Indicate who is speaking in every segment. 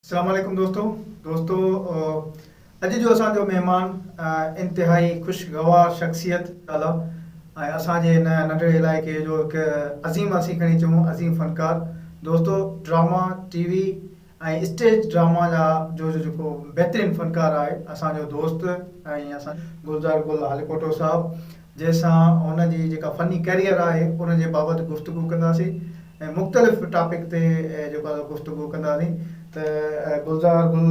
Speaker 1: السلام عليڪم دوستو دوستو اڄ جو اسان جو مهمان انتهائي خوشگوار شخصيت اعليٰ ۽ اسان جي هن ننڍڙي علائقي جو هڪ عظيم اسين کڻي چون عظيم فنڪار دوستو drama T V ۽ stage drama جا جو جو جيڪو بهترين فنڪار آهي اسان جو دوست ۽ اسان گلزار گل هاليڪوٽو صاحب جنهن سان هن جي جيڪا فني ڪيريئر آهي ان جي بابت گفتگو ڪنداسين ۽ مختلف ٽاپڪ تي جيڪو گفتگو ڪنداسين ته گلزار گل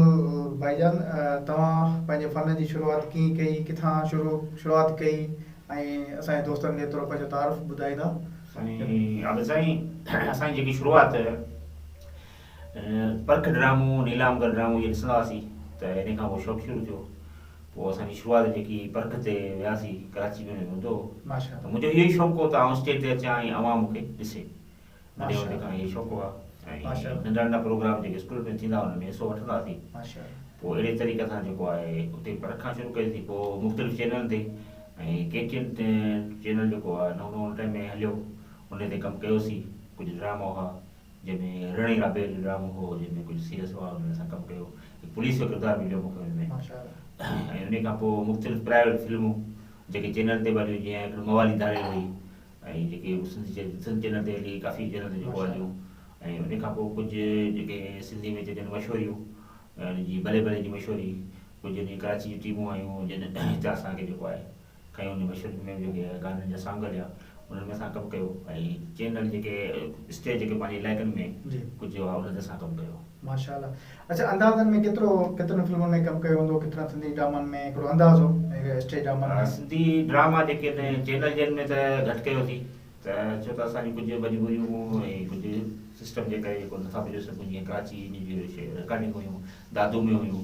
Speaker 1: ڀائي جان توهان پنهنجي فن جي شروعات ڪيئن ڪئي ڪٿان شروع شروعات ڪئي ۽ اسان جي دوستن کي ٿورو پنهنجو تعارف ٻڌائيندا سائين عابد سائين
Speaker 2: اسان جي جيڪي شروعات پرک ڊرامو، نيلام گل ڊرامو جي ڏسندا هئاسين ته انهي کان پوء شوق شروع ٿيو. پوء اسان جي شروعات جيڪي پرک تي وياسين ڪراچي ۾ هوندو هو ته منهنجو اهو ئي شوق هو ته آئون اسٽيج تي اچان ۽ عوام مون کي ڏسي. ننڍي هوندي کان اهي شوق هئا ۽ ننڍا ننڍا پروگرام جيڪي اسڪول ۾ ٿيندا هئا ان ۾ حصو وٺندا هئاسين. پوء اهڙي طريقي سان جيڪو آهي اتي پرک کان شروع ڪئي سين. پوء مختلف چينلن تي ۽ ڪي ٽي اين چينل جيڪو آهي نئون نئون ان ٽائيم ۾ هليو انهي تي ڪم ڪيوسين. ڪجهه ڊراما هئا. جنهن ۾ رڻي رابيل جو ڊرامو هو جنهن ۾ ڪجهه سيريس هئا انهن اسان ڪم ڪيو هڪ پوليس جو ڪردار مليو مون کي ان ۾ ۽ انهي کان پوء مختلف پرائيويٽ فلمون جيڪي چينل تي به هليون جيئن هڪڙي موالي ڌاريل هئي ۽ جيڪي سنڌ سنڌ چينل تي هلي ڪافي چينل تي جيڪو هليون ۽ انهي کان پوء ڪجهه جيڪي سنڌي ۾ چئجن مشهوريون جي ڀلي ڀلي جي مشهوري ڪجهه انهي ڪراچي جون ٽيمون آيون جن هتي اسان کي جيڪو آهي کين ان مشرق ۾ جيڪي گانن جا سانگ هليا انهن ۾ اسان ڪم ڪيو ۽ چينل جيڪي اسٽيج جيڪي پنهنجي علائقن ۾ ڪجهه هئا انهن تي اسان ڪم ڪيو. ماشاء الله
Speaker 1: اڇا اندازن ۾ ڪيترو ڪيترن فلمن ۾ ڪم ڪيو هوندو ڪيترن سنڌي ڊرامن ۾ هڪڙو اندازو اسٽيج ڊرامن ۾. سنڌي ڊراما جيڪي
Speaker 2: تنهن چينل جن ۾ ته گهٽ ڪيوسي ته ڇو ته اسان جون ڪجهه مجبوريون هيون ۽ ڪجهه سسٽم جي ڪري جيڪو نٿا پڄي سگهون جيئن ڪراچي جي رڪارڊنگ هيون دادو ۾ هيون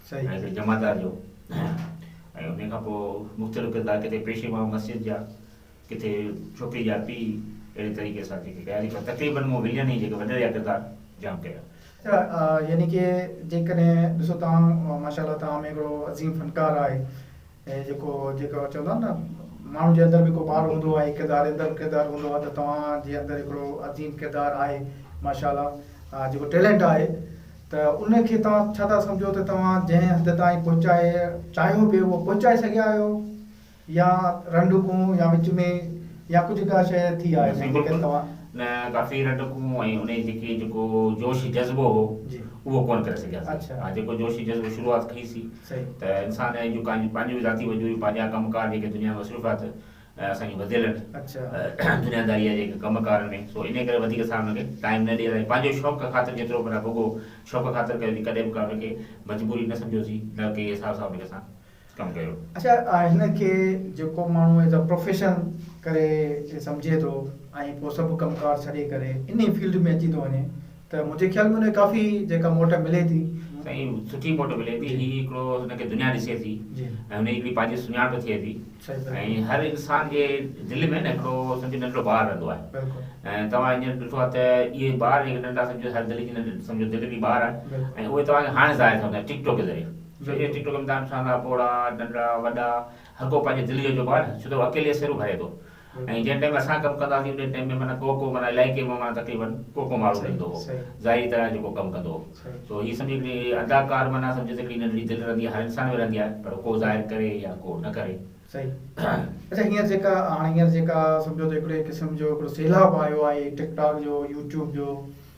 Speaker 2: ايز اي جمعدار جو ۽ انهي کان پوء مختلف ڪردار ڪٿي پيشي ماڻهو مسجد جا ڪٿي ڇوڪري جا پيء اهڙي طريقي سان جيڪي ڪيا جيڪي تقريبن مون ولين ئي جيڪي وڏڙيا ڪردار جام ڪيا. يعني
Speaker 1: ڪي جيڪڏهن ڏسو توهان ماشاء الله توهان ۾ هڪڙو عظيم فنڪار آهي ۽ جيڪو جيڪو چوندا آهن نه ماڻهو جي اندر به هڪڙو ٻار هوندو آهي ڪردار جي اندر ڪردار هوندو آهي ته توهان جي اندر هڪڙو عظيم ڪردار آهي ماشاء الله جيڪو ٽيلنٽ آهي ته ان کي توهان ڇا ٿا سمجهو ته توهان جنهن حد تائين پهچائي چاهيو پئي اهو پهچائي سگهيا آهيو يا رنڊڪون يا وچ ۾ يا ڪجهه ڪا شيء ٿي آهي جنهن جي ڪري توهان. نه ڪافي
Speaker 2: رنڊڪون ۽ ان جي جيڪي جيڪو جوش جذبو هو اهو ڪونه ڪري سگهياسين ها جيڪو جوش جذبو شروعات ڪئي سي ته انسان جون ڪا پنهنجون ذاتي وجودي پنهنجا ڪم ڪار جيڪي دنيا ۾ مصروفيات ۽ اسان جي وڌيل دنياداري آهي جيڪي ڪم ڪار ۾ سو انهي ڪري وڌيڪ اسان ان کي ٽائيم نه ڏئي سگهيا پنهنجو شوق خاطر جيترو پر رڳو شوق خاطر ڪيو سين ڪڏهن به ڪا ان کي مجبوري نه سمجهيو سين نه ڪنهن حساب سان ان کي اسان ڪم ڪيو. اڇا هن کي
Speaker 1: جيڪو ماڻهو ايز ا پروفيشن ڪري سمجهي ٿو ۽ پوء سڀ ڪم ڪار ڇڏي ڪري انهي فيلڊ ۾ اچي ٿو وڃي ته منهنجي خيال ۾ ان کي ڪافي جيڪا موٽ ملي ٿي. سائين سٺي
Speaker 2: موٽ ملي ٿي هي هڪڙو هن کي دنيا ڏسي ٿي ۽ هن جي هڪڙي پنهنجي سڃاڻپ ٿئي ٿي ۽ هر انسان جي دل ۾ نه هڪڙو سمجهو ننڍڙو ٻار رهندو آهي ۽ توهان هينئر ڏٺو آهي ته اهي ٻار جيڪي ننڍا سمجهو هر دل جي ننڍ سمجهو دل جي ٻار آهن ۽ اهي توهان کي هاڻي ظاهر ٿيندا ٽڪ ٽوڪ ذريعي ڇو جو ٽڪ ٽوڪ ۾ توهان ڏسندا پوڙها ننڍڙا وڏا هر ڪو پنهنجي دل جو چئبو آهي نه ڇو ته اڪيلي سر ڀري ٿو ۽ جنهن ٽيم اسان ڪم ڪندا هئاسين انهي ٽيم ۾ معنيٰ ڪو ڪو معنيٰ علائقي مان معنيٰ تقريبن ڪو ڪو ماڻهو ملندو هو ظاهري طرح جيڪو ڪم ڪندو هو سو هي سمجهي هڪڙي اداڪار معنيٰ سمجهه ته هڪڙي ننڍڙي دل رهندي آهي هر انسان ۾ رهندي آهي پر ڪو ظاهر ڪري يا ڪو نه ڪري
Speaker 1: اڇا هينئر جيڪا هاڻي هينئر جيڪا سمجهو ته هڪڙي قسم جو هڪڙو سيلاب آيو آهي ٽڪ ٽاڪ جو يوٽيوب جو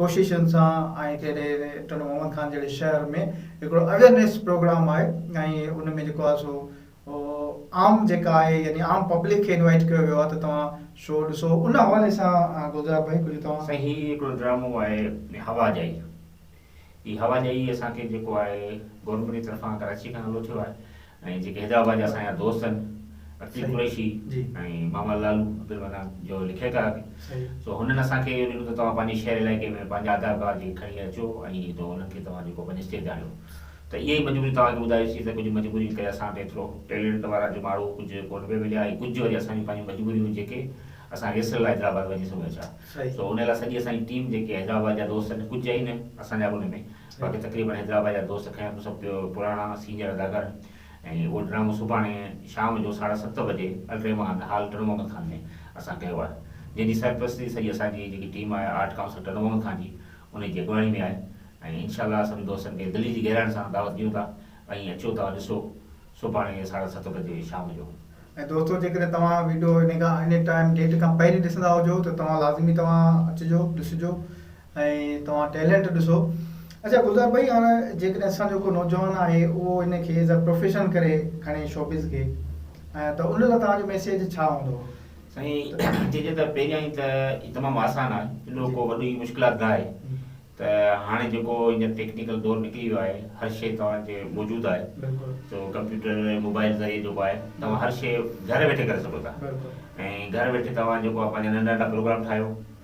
Speaker 1: ڪوششن سان ۽ ڪهڙي ٽنڊو محمد خان جهڙي شهر ۾ هڪڙو اويرنيس پروگرام آهي ۽ ان ۾ جيڪو آهي سو عام جيڪا آهي يعني عام پبلڪ کي انوائيٽ ڪيو ويو آهي ته توهان شو ڏسو ان حوالي سان گلزار ڀائي ڪجهه توهان سائين هي هڪڙو ڊرامو
Speaker 2: آهي هوا جائي هي هوا جائي اسان کي جيڪو آهي گورنمينٽ جي طرفان ڪراچي کان نالو ٿيو آهي ۽ جيڪي حيدرآباد جا اسان جا دوست آهن عتيق قريشي ۽ محمد لالو عبدالمنان جو لکيڪار به سو هنن اسان کي اهو ڏنو ته توهان پنهنجي شهر علائقي ۾ پنهنجا آڌار ڪارڊ جي کڻي اچو ۽ تو انهن کي توهان جيڪو پنهنجي اسٽيج آڻيو ته اها ئي مجبوري توهان کي ٻڌايوسين ته ڪجهه مجبورين ڪري اسان کي ايترو ٽيلنٽ وارا جو ماڻهو ڪجهه ڪونه پئي مليا ۽ ڪجهه وري اسان جون پنهنجون مجبوريون هيون جيڪي اسان ريهرسل لاء حيدرآباد وڃي سگهون ٿا سو ان لاء سڄي اسان جي ٽيم جيڪي حيدرآباد جا دوست آهن ڪجهه آهن اسان جا به ان ۾ باقي تقريبن حيدرآباد جا دوست کڻي اچو سڀ پراڻا سينئر اداڪار ۽ اهو ڊرامو سڀاڻي شام جو ساڍا ست بجي الرحمان هال ٽن محمد خان ۾ اسان ڪيو آهي جنهن جي سرپرستي سڄي اسان جي جيڪي ٽيم آهي آرٽ ڪائونسل ٽن محمد خان جي انهي جي اڳواڻي ۾ آهي ۽ انشاء الله سڀني دوستن کي دلي جي گهراڻ سان دعوت ڏيون ٿا ۽ اچو ته ڏسو سڀاڻي ساڍا ست بجي شام جو. ۽ دوستو جيڪڏهن
Speaker 1: توهان ويڊيو انهي کان انهي ٽائيم ڊيٽ کان پهرين ڏسندا هجو ته توهان لازمي توهان اچجو ڏسجو ۽ توهان ٽيلنٽ ڏسو. اچا گلزار ڀائي هاڻ جيڪڏهن اسان جو ڪو نوجوان آهي اهو ان کي ايز اي پروفيشن ڪري کڻي شوبز کي ته ان لاء توهان جو ميسيج ڇا هوندو؟ سائين ائين
Speaker 2: چئجي ته پهريائين ته هي تمام آسان آهي ايڏو ڪو وڏي مشڪلات ناهي ته هاڻي جيڪو هينئر ٽيڪنيڪل دور نڪري ويو آهي هر شئي توهان جي موجود آهي سو ڪمپيوٽر ۽ موبائل ذريعي جيڪو آهي توهان هر شئي گهر ويٺي ڪري سگهو ٿا ۽ گهر ويٺي توهان جيڪو آهي پنهنجا ننڍا ننڍا پروگرام ٺاهيو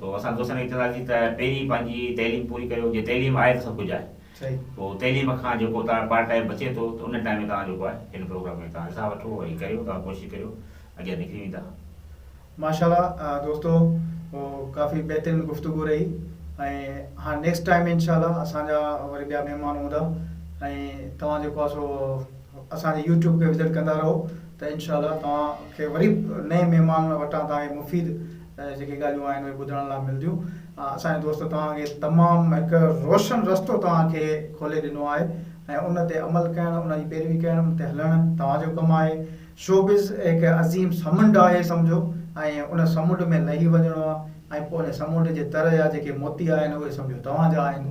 Speaker 2: سو اسان دوستن کي چونداسين ته پهرين پنهنجي تعليم پوري ڪريو جي تعليم آهي ته سڀ ڪجهه آهي پوء تعليم کان جيڪو توهان پارٽ ٽائيم بچي ٿو ته ان ٽائيم ۾ توهان جيڪو آهي هن پروگرام ۾ توهان حصا وٺو ۽ ڪريو توهان ڪوشش ڪريو اڳيان نڪري ويندا. ماشاء الله
Speaker 1: دوستو ڪافي بهترين گفتگو رهي ۽ هاڻ نيڪسٽ ٽائيم انشاء الله اسان جا وري ٻيا مهمان هوندا ۽ توهان جيڪو آهي سو اسان جي يوٽيوب کي وزٽ ڪندا رهو ته انشاء الله توهان کي وري نئين مهمان وٽان توهان کي مفيد جيڪي ڳالهيون آهن اهي ٻڌڻ لاء ملنديون. اسان جي دوست توهان کي تمام هڪ روشن رستو توهان کي کولي ڏنو آهي ۽ ان تي عمل ڪرڻ ان جي پيروي ڪرڻ ان تي هلڻ توهان جو ڪم آهي. شوبز هڪ عظيم سمنڊ آهي سمجهو ۽ ان سمنڊ ۾ لهي وڃڻو آهي ۽ پوء ان سمنڊ جي تر جا جيڪي موتي آهن اهي سمجهو توهان جا آهن.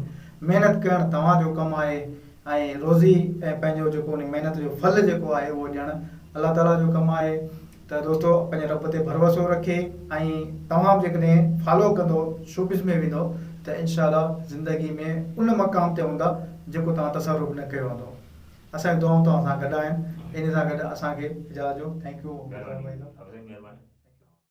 Speaker 1: محنت ڪرڻ توهان جو ڪم آهي ۽ روزي ۽ پنهنجو جيڪو ان محنت جو ڦل جيڪو آهي اهو ڏيڻ الله تعاليٰ جو ڪم آهي. ته دوستو پنهنجي رب تي ڀروسو رکي ۽ تمام جيڪڏهن فالو ڪندو شوبز ۾ ويندو ته انشاء الله زندگي ۾ ان مقام تي هوندا جيڪو توهان تصور به نه ڪيو هوندو اسان جون دعائون توهان سان گڏ آهن انهي سان گڏ اسان کي اجازت ڏيو ٿينڪ يو مهرباني ڀائي صاحب